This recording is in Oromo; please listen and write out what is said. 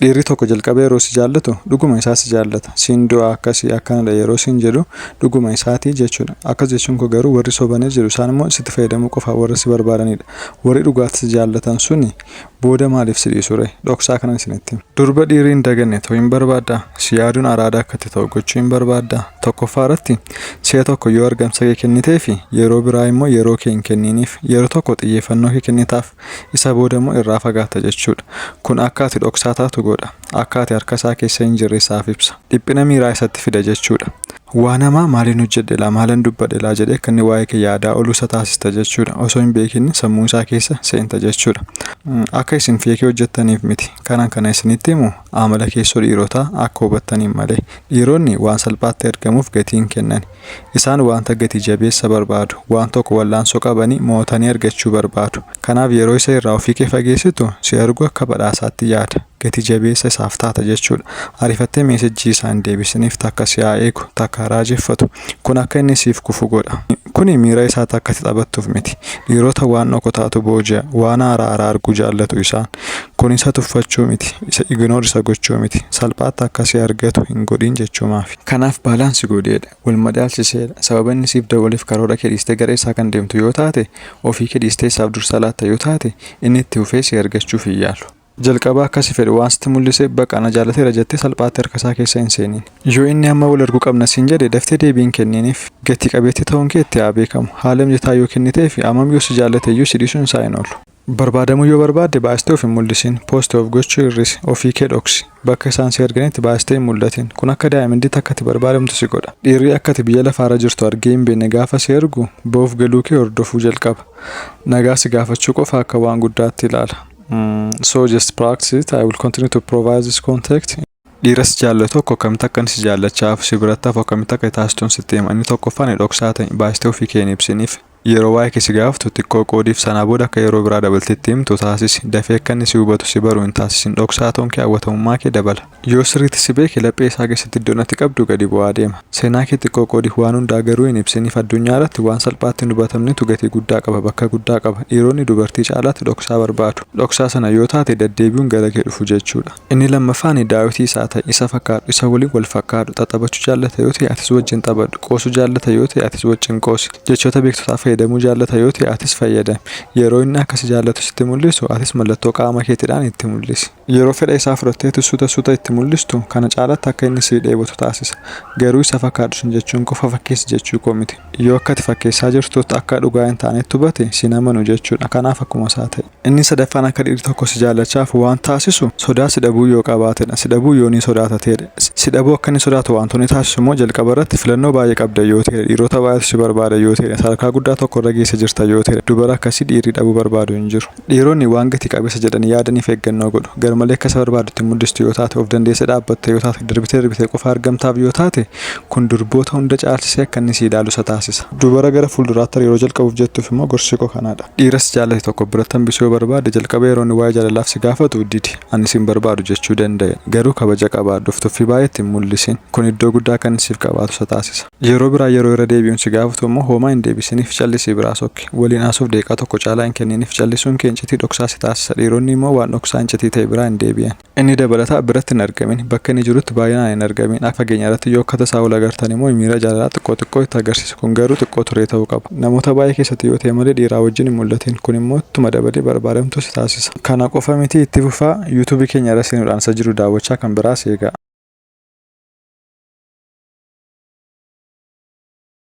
Dhiirri tokko jalqaba yeroo si jaallatu dhuguma isaa si jaallata. Siin du'aa akkasi akkanadha yeroo siin jedhu dhuguma isaati jechuudha. Akkas jechuun koo garuu warri sobanii jiru isaan immoo sitti fayyadamuu qofaaf warra si barbaadaniidha. Warri dhugaatti si jaallatan suni booda maaliif si dhiisuree? Dhoksaa kanan isinitti hima. Durba dhiirri hin daganne ta'uu hin barbaaddaa? Si yaaduun araada akka itti ta'u gochuu hin barbaaddaa? Tokkoffaa irratti si'a tokko yoo argamsa kee kenniteefi yeroo biraa immoo yeroo kee hin kenniiniif. Yeroo tokko xiyyeeffannoo kee kennitaaf. Isa booda immoo irraa fagaatta jechuu dha. Kun akka ati dhoksaa taatu godha. Akka ati harka isaa keessa hin jirre isaaf ibsa. Dhiphina miiraa isatti fida jechuu dha. Waan hamaa maalin hojjedhe laa, maalan dubbadhe laa jedhee akka inni waa'ee kee yaadaa olu isa taasista jechuu dha. Osoo hin beekin sammuu isaa keessa seenta jechuu dha. Akka isin feekii hojjettaniif miti. Kanan kana isinitti himu amala keessoo dhiirotaa akka hubattaniin malee. Dhiironni waan salphaatti ergamuuf gatii hin kennani. Isaan wanta gati jabeessa barbaadu. Waan tokko wal'aansoo qabanii mo'atanii argachuu barbaadu. Kanaaf yeroo isa irraa ofii kee fageessitu, si argu akka badhaasaatti yaada. Gati jabeessa isaaf taata jechuudha. Ariifattee meesejjii isaa hin deebisiniif takka si haa eegu, takka haa raajeffatu. Kun akka inni siif kufu godha. Kuni miira isaatti akka itti taphattuuf miti. Dhiirota waan dhokotaatu booji'a. Waan haaraa haaraa arguu jaallatu isaan. Kun isa tuffachuu miti. Isa ignore isa gochuu miti. Salphaatti akka si argatu hin godhin jechuumaafi. Kanaaf baalaansi godheedha, wal madaalsiseedha. Sababa inni siif dawwaleef karoora kee dhiistee gara isaa kan deemtu yoo taate, ofii kee dhiistee isaaf dursa laatta yoo taate, inni itti fufee si argachuuf hin yaalu. Jalqaba akka si fedhu waan sitti mul'iseef baqa na jaallateera jettee salphaatti harka isaa keessa hin seeniin. Yoo inni amma wal arguu qabna siin jedhe daftee deebii hin kenniiniif. Gati qabeettii ta'uun kee itti haa beekamu. Haala mijataa yoo kenniteefi ammam yoo si jaallate iyyuu si dhiisuun isaa hin oolu. Barbaadamuu yoo barbaadde baastee of hin mul'isin, post of gochuu hir'isi, ofii kee dhoksi, bakka isaan si arganitti baastee hin mul'atin, kun akka daa'imnditti akka ati barbaadamtu si godha. Dhiirri akka ati biyya lafaarra jirtu argee hin beekne gaafa si argu ba'uuf galuu kee hordofuu jalqaba. Nagaa si gaafachuu qofa akka waan guddaatti ilaala. So just practice it, I will continue to provide this contact. Dhiiras jaallo tokko akkamitti akkan si jaallachaa hafu si biratti hafu akkamitti akka taasistun sitti hima inni tokkoffaan ani dhoksaa ta'e baay'istee ofii kee hin ibsiniif yeroo waa'ee kee si gaafatu xiqqoo qoodiif sanaa booda akka yeroo biraa dabaltee itti himtu taasisi dafee akka inni si hubatu si baru hin taasisin dhoksaa ta'uun kee hawwatamummaa kee dabala yoo sirriitti si beeke laphee isaa keessatti iddoon ati qabdu gadi bu'aa deema seenaa kee xiqqoo qoodiif waan hundaa garuu hin ibsiniif addunyaa irratti waan salphaatti hin hubatamnetu gatii guddaa qaba bakka guddaa qaba dhiironni dubartii caalaatti dhoksaa barbaadu dhoksaa sana yoo taate daddeebi'uun gara kee dhufu jechuudha. Inni lammaffaan Daawiti isaa ta'i, isa fakkaadhu, isa waliin wal fakkaadhu. Xaxabachuu jaallata yoo ta'e atis wajjin xabadhu. Qoosuu jaallata yoo ta'e atis wajjin qoosi. Jechoota beektotaa fayyadamuu jaallata yoo ta'e atis fayyadami. Yeroo inni akka si jaallatu sitti mul'isu atis mallattoo qaama keetiidhaan itti mul'isi. Yeroo fedha isaa fudhatteetu suuta suuta itti mul'istu kana caalaatti akka inni si dheebotu taasisa. Garuu isa fakkaadhu siin jechuun qofa fakkeessi jechuu koo miti. Yoo akka ati fakkeessaa jirtutti akka dhugaa hin taanetti hubate si hin amanu jechuudha. Kanaaf akkuma isaa ta'i. Inni sadaffaan akka dhiirri tokko si jaallachaaf waan taasisu sodaa si dhabuu yoo qabaatedha. Si dhabuu yoo ni sodaata ta'edha. Si dhabuu akka inni sodaatu waantu ni taasisu immoo jalqaba irratti filannoo baay'ee qabda yoo ta'edha. Dhiirota baay'eetu si barbaada yoo ta'edha. Sadarkaa guddaa tokko irra geesse jirta yoo ta'edha. Dubara akkasii dhiirri dhabuu barbaadu hin jiru. Dhiironni waan gati qabeessa jedhanii yaadaniif eeggannoo godhu. Garmalee akka isa barbaaddu itti mul'istu yoo taate, of dandeessee dhaabbatta yoo taate, darbitee darbitee qofa argamtaaf yoo taate, kun durboota hunda caalchisee akka inni si ilaalu isa taasisa. Dubara gara fuulduraatti hariiroo jalqabuuf jettuuf immoo gorsi koo kanaa dha. Dhiira si jaallate tokko biratti hambisuu yoo barbaadde jalqaba yeroo inni waa'ee jaalalaaf si gaafatu didi. Ani si hin barbaadu jechuu danda'i. Garuu kabaja qabaadhuuf. Tuffii baay'ee itti hin mul'isin. Kun iddoo guddaa akka inni siif qabaatu isa taasisa. Yeroo biraa yeroo irra deebi'uun si gaafatu immoo hoomaa hin deebisiniif callisii biraa sokki. Waliin haasa'uuf daqiiqaa tokko caalaa hin kenniniif. Callisuun kee iccitii dhoksaa si taasisa. Dhiironni immoo waan dhoksaa iccitii ta'e biraa hin deebi'an. Inni dabalataa biratti hin argamin. Bakka inni jirutti baay'inaan hin argamin. Akka fageenyarratti yoo akka tasaa wal agartan immoo miira jaalalaa xiqqoo xiqqoo itti agarsiisi. Kun garuu xiqqoo turee ta'uu qaba. Namoota baay'ee keessatti yoo ta'e malee dhiiraa wajjin hin mul'atin. Kun immoo ittuma dabalee barbaadamtuu si taasisa. Kana qofa miti itti fufaa YouTube keenya irra seenuudhaan isa jiru daawwachaa kan biraas eegaa.